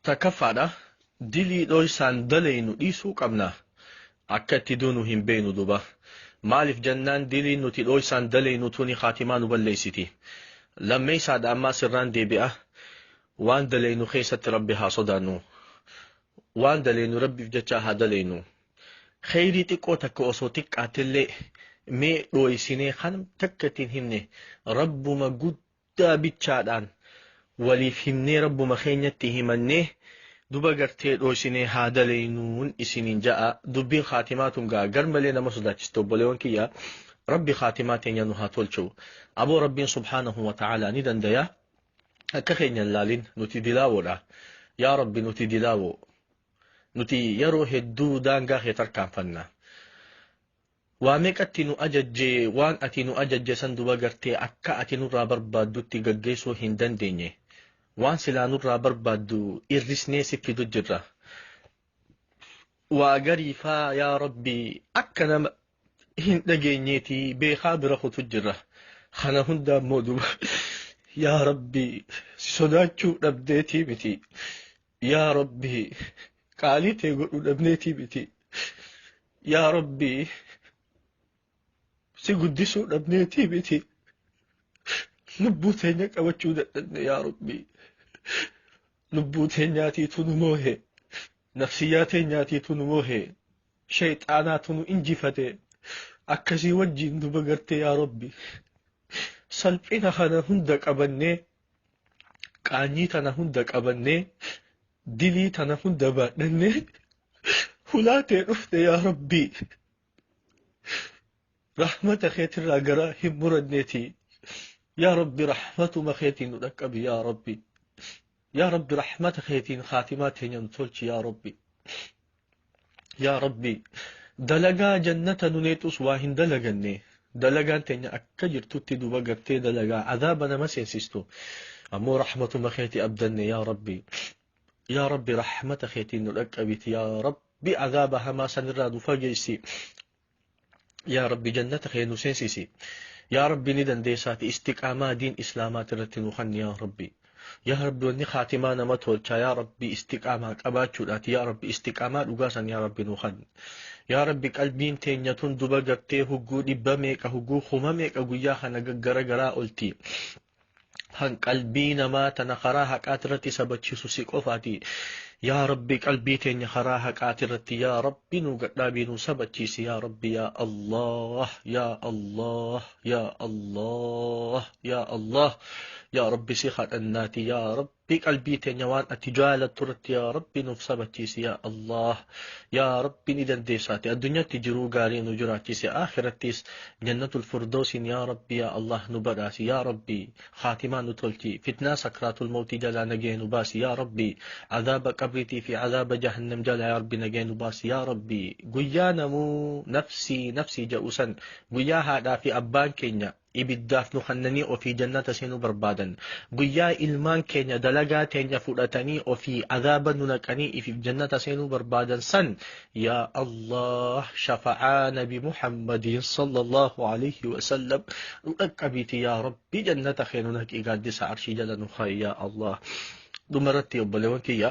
Takkaffaadha, dilii dhoysaan dalaynu dhiisuu qabna. Akka itti duunu hin beeynu duuba. Maaliif jennaan diliin nuti dhoysaan dalaynu tuni khaatimaa nu balleysiti. Lammeeysaadha ammaas irraan deebi'a, waan dalaynu kheeysatti Rabbi haa sodaannu. Waan dalaynu Rabbiif jechaa haa dalaynu. Kheeyrii xiqqoo takka osoo xiqqaattellee mee dhoysinee khanam takka itti hin himne Rabbuma guddaa bichaadhaan waliif himnee rabbuma keenyatti himannee duba gartee dhooysinee haa dalaynuun isiniin ja'a dubbiin khaatimaa tun gaa gar malee nama sodaachisti obboleewwan kiyya rabbi khaatimaa teenya nu haa tolchu aboo rabbiin subhaanahu wa ta'aalaa ni dandaya akka keenya hin laalin nuti dilaawoodha yaa rabbi nuti dilaawoo nuti yeroo hedduu daangaa kee tarkaanfanna Waa meeqatti nu ajajje, waan ati nu ajajje san duba gartee akka ati nurraa barbaaddutti gaggeessuu hin dandeenye. Waan silaa nurraa barbaaddu irrisnee si fidu jirra. Waa garii faa yaa Rabbi akka nama hin dhageenyeeti beekaa bira kutu jirra. Kana hundaa immoo duba yaa Rabbi si sodaachuu dhabdeetii miti. Yaa Rabbi qaalii tee godhuu dhabneetii miti. Yaa Rabbi si guddisuu dhabneetii miti. Lubbuu teenya qabachuu dadhabne yaa Rabbi. Lubbuu teenyaatiitu nu moohe. Nafsiyyaa teenyaatiitu nu moohe. Shayxaanaatu nu injifate. Akkasii wajjin nu bagarte yaa Rabbi. Salphina kana hunda qabannee qaanyii tana hunda qabannee dilii tana hunda baadhannee hulaa tee dhufne yaa rabbii rahmata keetirraa garaa hin muranneeti yaa rabbi rahmatuma keetiin nu dhaqqabi yaa rabbi yaa rabbi rahmata keetiin khaatimaa teenyaan tolchi yaa rabbi yaa rabbii dalagaa jannata nu neexus waa hin dalaganne dalagaan teenya akka jirtutti duba gartee dalagaa azaaba nama seensistu ammoo rahmatuma keeti abdanne yaa rabbii yaa rabbi rahmata keetiin nu dhaqqabiti yaa rabbi azaaba hamaa sanirraa nu fageessi yaa rabbi jannata kee nu seensisi yaa rabbi ni dandeessaati istiqaamaa diin islaamaati irratti nu kanni yaa rabbi yaa rabbi wanni kaatimaa nama tolchaa yaa rabbi istiqaamaa qabaachuudhaati yaa rabbi istiqaamaa dhugaa san yaa rabbi nu kanni yaa rabbi qalbiin teenya tun duba gartee hugguu dhibba meeqa hugguu kuma meeqa guyyaa kana gaggara garaa olti kan qalbii namaa tana karaa haqaati irratti sabachiisu si qofaati yaa rabbi qalbii teenya karaa haqaati irratti yaa rabbi nu gadhaabii nu sabachiisi yaa rabbi yaa allah yaa allah yaa allah yaa allah yaa rabbi si kadhannaati yaa rabbi Rabbii qalbii teenya waan ati jaalattu irratti yaa Rabbi nuuf sabachiisi yaa Allah yaa Rabbi ni dandeessaati addunyaatti jiruu gaarii nu jiraachise akhirattis jannatul firdoosiin yaa Rabbi yaa Allah nu badhaasi yaa Rabbi khaatimaa nu tolchi fitnaa sakraatul mawtii jalaa nagee nu baasi yaa Rabbi azaaba qabriitii fi azaaba jahannam jalaa yaa Rabbi nagee nu baasi yaa Rabbi guyyaa namuu nafsii nafsii ja'usan guyyaa haadhaa fi abbaan keenya ibiddaaf nu kannanii ofii jannata seenuu barbaadan guyyaa ilmaan keenya dalagaa teenya fudhatanii ofii azaaba nu naqanii ifiif jannata seenuu barbaadan san yaa allah shafa'aa nabi muhammadiin sallallahu alayhi wasallam nu dhaqqabiiti yaa rabbi jannata keenu naqii gaaddisa arshii jala nu haa yaa allah dhumarratti obboleewwan kiyya